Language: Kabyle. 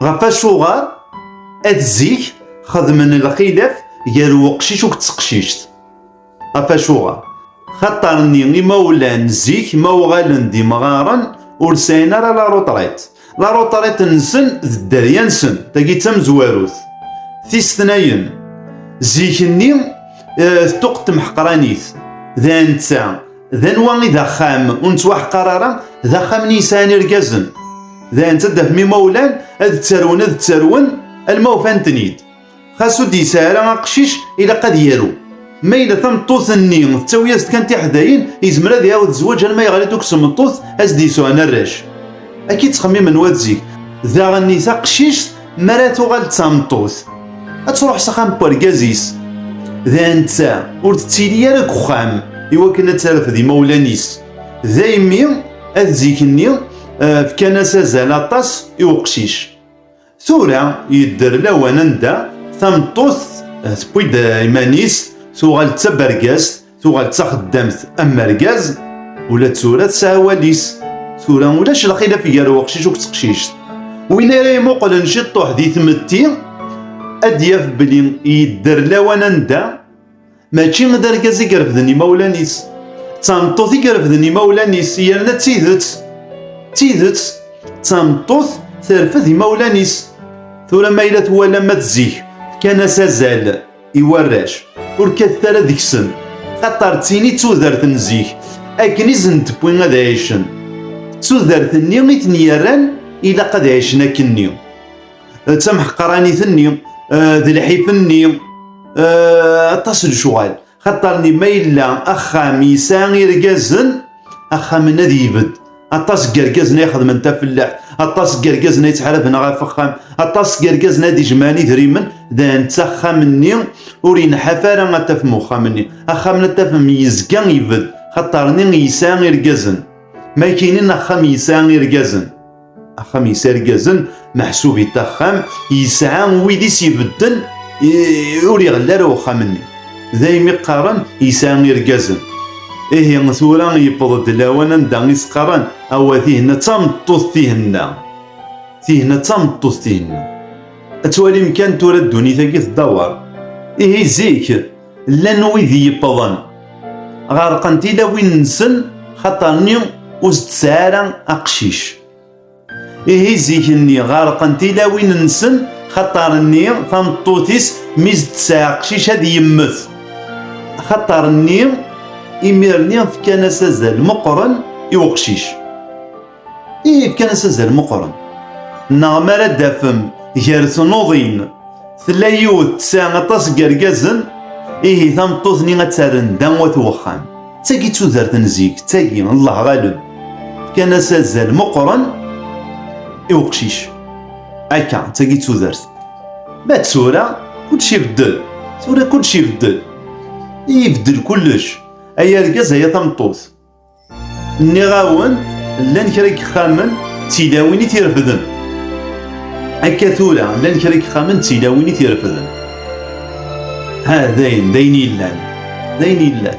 Ɣef acuɣer ad zik xedmen lxilaf gar uqcic u teqcict. Ɣef acuɣer? Xaṭer-nni imawlan zik ma uɣalen d imɣaren ur sɛin ara la rutṛit. La rutṛit nsen d dderya nsen, tagi d tamezwarut. Tistnayen, zik-nni tuqt temḥeqranit, d anta? d anwa i d axxam ur nettwaḥqar ara d axxam n yisɛan irgazen d ayen ttadafem imawlan ad ttarwen ad ttarwen alma ufan-ten-id xas ur d-yesɛi ara aqcic ilaq ad yaru ma yella tameṭṭut-nni tettawi-as-d kan tiḥdayin yezmer ad iɛawed zzwaǧ alma yeɣli-d ukes meṭṭut as-d yesɛun arrac akka i ttxemmimen wat zik daɣen i taqcict mi ara tuɣal d tameṭṭut ad truḥ s axxam n urgaz-is d anta ur tettili ara deg uxxam iwakken ad terfed imawlan-is daymi ad zik-nni eh, fkan-as azal aṭas i uqcic tura yedder lawan anda tameṭṭut eh, tewwi-d iman-is tuɣal d tabergazt Tuɣal d taxeddamt am argaz, ula d tura tesɛa awal-is. Tura ulac lxilaf gar weqcic u teqcict. Win ara imuqlen ciṭṭuḥ di tmetti ad d-yaf belli yedder lawan anda mačči d argaz i irefden imawlan-is, d tameṭṭut i irefden imawlan-is yerna d tidet, d tidet d tameṭṭut terfed imawlan-is. Tura ma yella twalam ad zik fkan-as azal. i warrac, ur kkatet ara deg-sen, xaṭer d tin i d tudert n zik, akken i sen-d-tewwi ad ɛicen. D tudert-nni i ten-yerran ilaq ad ɛicen akkenni. D tamḥeqranit-nni, d lḥif-nni, aṭas n lecɣal. Xaṭer-nni ma yella axxam yesɛa irgazen, axxam-nni ad yebedd. aṭas n yergazen ay xedmen tafellaḥt aṭas n yergazen ay ttḥaraben ɣef axxam aṭas n yergazen ay d-ijemɛen idrimen d netta axxam-nni ur yenḥaf ara ad tafem uxxam-nni axxam-nni ad tafem yezga ibed xaṭer-nni yesɛa irgazen ma kinin axxam yesɛa irgazen axxam yesɛa irgazen Meḥsub i taxxam yesɛa wid i s-ibedden ur iɣelli ara uxxam-nni. Daymi qqaren yesɛa irgazen. Ihi tura yewweḍ-d lawan anda i s-qqaren awa tihenna d tameṭṭut tihenna. Tihenna d tameṭṭut tihenna. Ad twalim kan tura ddunit-agi teddawer. Ihi zik llan wid yewwḍen ɣerqen tilawin-nsen xaṭer-nni ur s-d-tesɛi ara aqcic. Ihi zik-nni ɣerqen tilawin-nsen xaṭer-nni tameṭṭut-is mi s-d-tesɛa aqcic ad yemmet. Xaṭer-nni imir-nni fkan-as azal meqqren i uqcic. Ihi fkan-as azal meqqren. Neɣ mi ara d-tafem gar tnuḍin tella yiwet tesɛa aṭas n yergazen, ihi tameṭṭut-nni ad terren da wat uxxam. D tagi d tudert n zik, d tagi n Allah ɣaleb. Fkan-as azal meqqren i uqcic. Akka, d tagi d tudert. Ma d tura, kullec ibeddel. Tura kullec ibeddel. Ibeddel kullec. Ay argaz, ay tameṭṭut. Nniɣ-awen, llan kra n yixxamen d tilawin i t-irefden. Akka tura, llan kra n yixxamen d tilawin i t-irefden. Ha, dayen, dayen yellan. Dayen yellan.